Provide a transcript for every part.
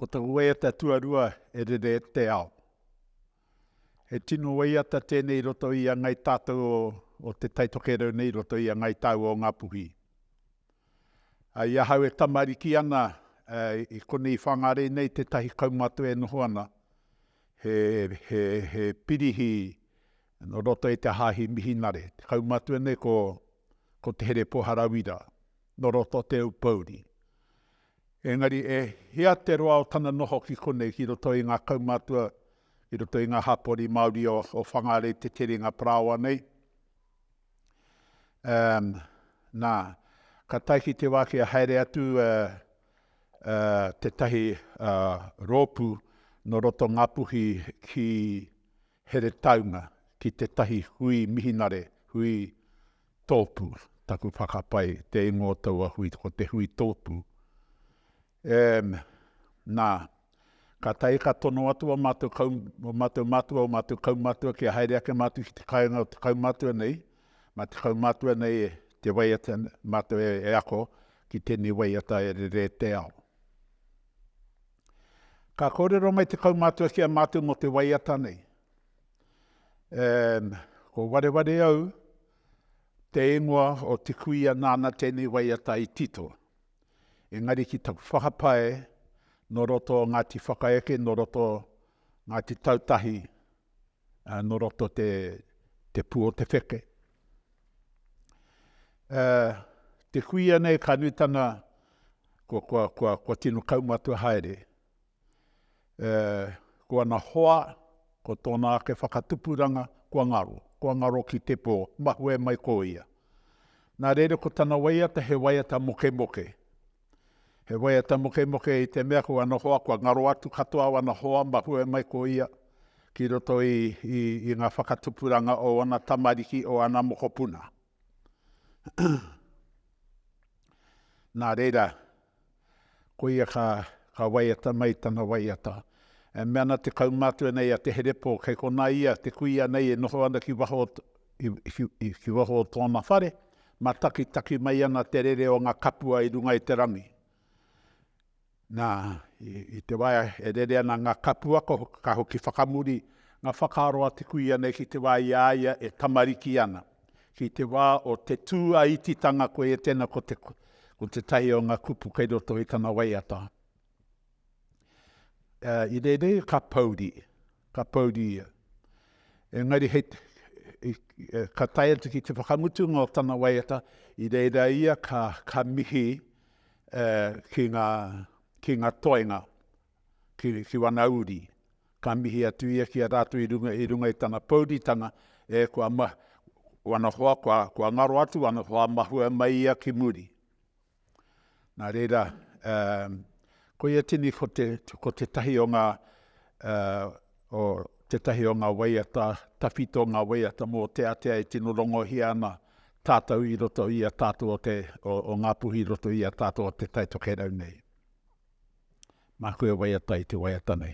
Ko taku waiata tuarua e rere te ao. He tino waiata tēnei i roto i a Ngāi Tātou o Te Tai Tokerau nei i roto i a Ngāi Tāu o Ngā Puhi. I ahau e tamariki ana i konei Whangārei nei tētahi kaumātua e noho ana he pirihi Nō roto i te Hāhi Mihinare, te kaumātua nei ko, ko Te Herepo Harawira, nō roto Te Aupouri. Engari, e hia te roa o tana noho ki konei, ki roto i ngā kaumātua, ki roto i ngā hapori Māori o, o Whangārei, te terenga parāoa nei? Um, nā, ka tae ki te wā kia haere atu uh, uh, tētahi uh, rōpū nō roto Ngāpuhi ki, Heretaunga ki tētahi hui mihinare, hui tōpū, taku whakapae, te ingoa o taua hui, ko te hui tōpū. Ehm, nā, ka tae ka tono atu ō mātou kau, ō mātou matua, ō mātou kaumātua kia haere ake mātou ki te kāinga o te kaumātua nei, mā te kaumātua nei e te waiata, mātou e ako ki tēnei waiata e rere te ao. Ka kōrero mai te kaumātua ki a mātou mō te waiata nei. Um, ko wareware au, te ingoa o te kuia nāna tēnei waiata i tito. Engari ki taku whakapae, nō roto o Ngāti Whakaeke, nō roto Ngāti Tautahi, ā, nō roto te, te pū o te wheke. Ā, te kuia nei ka nutanga, kua, kua, kua, kua tino kaumatua haere. Ā, ko ana hoa, ko tōna ake whakatupuranga, kua ngaro, kua ngaro ki te pō, mahue mai ko ia. Nā reira ko tana waiata he waiata mokemoke. He waiata mokemoke i te mea ko ana hoa kua ngaro atu katoa wana hoa mahue mai ko ia ki roto i, i, i ngā whakatupuranga o ana tamariki o ana mokopuna. Nā reira, ko ia ka, ka waiata mai tana waiata. E mea ana te kaumātua nei a Te Herepō, kei konā ia te kuia nei e noho ana ki waho, ki, ki, ki waho o tōna whare, Matakitaki mai ana te rere o nga kapua i runga i te rangi. Na, i te wa e rere ana nga kapua, ka hoki whakamuri nga whakaaro a te kui ianei ki te wa i a ia e tamariki ana. Ki te wa o te tu a ititanga koia tena ko te ko tetahi o nga kupu kei roto i tana waiata. I reira ka pouri, ka pouri ia. Engari hei, ka tae atu ki te whakamutunga o tana waiata, i reira ia ka, ka mihi ki ngā, ki ngā toenga, ki, ki wana uri. Ka mihi atu ia ki a rātou i runga, i runga i tana pouritanga, e, kua ma, wana hoa, kua, kua ngaro atu wana hoa, mahue mai ia ki muri. Nā reira, koia tini ko te, ko tētahi o ngā, o tētahi o ngā waiata, tawhito ngā waiata mōteatea e tino rongohia ana tātou i roto i a tātou o te, o Ngāpuhi i roto i a tātou o Te Tai Tokerau nei. Māku e waiata i te waiata nei.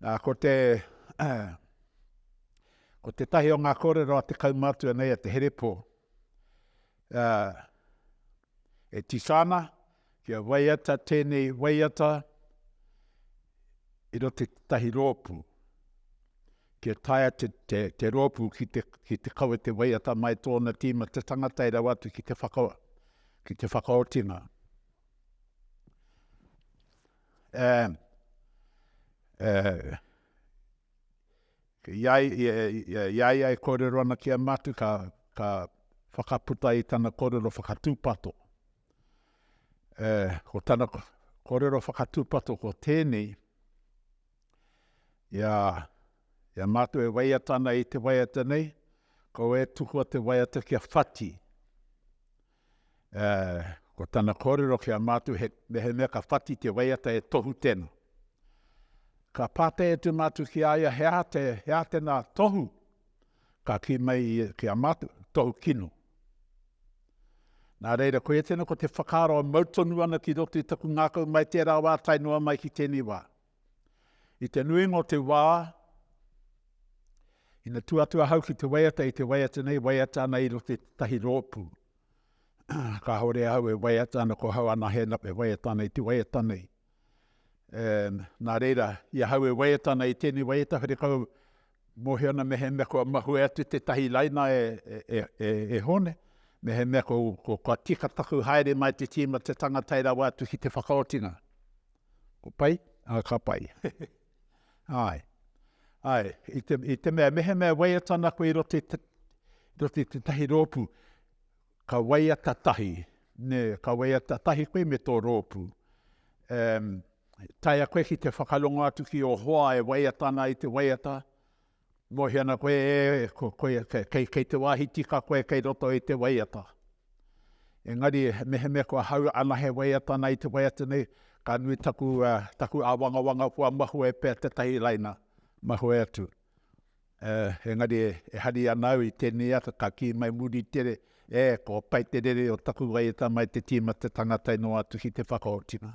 Ā, ko te, ko tētahi o ngā kōrero a te kaumātua nei a Te Herepō, ā, e tisa ana kia waiata tēnei waiata i roto i tētahi rōpū, kia taea te, te, te rōpū ki te, ki te kawe te waiata mai tōna tīma te tangata e rawa atu ki te whaka, ki te whakaotinga. I a ia e kōrero ana ki a mātou, ka, ka whakaputa i tana kōrero whakatūpato. Ko tana kōrero whakatūpato ko tēnei, i a, i a mātou e waiata ana i te waiata nei, kaua e tukua te waiata kia whati. Ā, ko tana kōrero ki a mātou he mehemea ka whati te waiata e Tohu tena. Ka pātai atu mātou ki a ia he aha te, he aha tena Tohu? Ka kī mai ia ki a mātou, Tohu kino. Nā reira, koia tena ko te whakaaro e mau tonu ana ki roto i taku ngākau mai tērā wā tae noa mai ki tēnei wā. I te nuinga o te wā, ina tū atu ahau ki te waiata, i te waiata nei, waiata ana i roto i tētahi rōpū. Kāore ahau e waiata ana, ko hau ana hēna e waiata ana i te waiata nei. E, nā reira, i ahau e waiata ana i tēnei waiata, where kau mōhio ana me he mea kua mahue atu tētahi laina e, e, e, e, e hone, me he mea ko, ko, kua tika taku haere mai te tīma te tangata e rawa atu ki te whakaotinga. Ko pai? Ā, ka pai. Āe. Āe, i te, i te mea, mehemea waiata ana koe i roto i te, roto i te tahi rōpū, ka waiata tahi, ne, ka waiata tahi koe me tō rōpū. Um, taia koe ki te whakarongo atu ki ō hoa e waiata ana i te waiata, Mohi ana koe e, ko koe, kei, kei te wāhi tika koe kei roto i te waiata. Engari, mehemea kua hau anahe waiata ana i te waiata nei, ka nui taku, uh, taku āwangawanga kua mahue pea tētahi laina, mahue atu. Uh, engari, e, e hari ana au i tēnei ata, ka kī mai muri tere, e, kua pai te rere o taku waiata mai te tīma te tangata i noa atu ki te whakaotinga.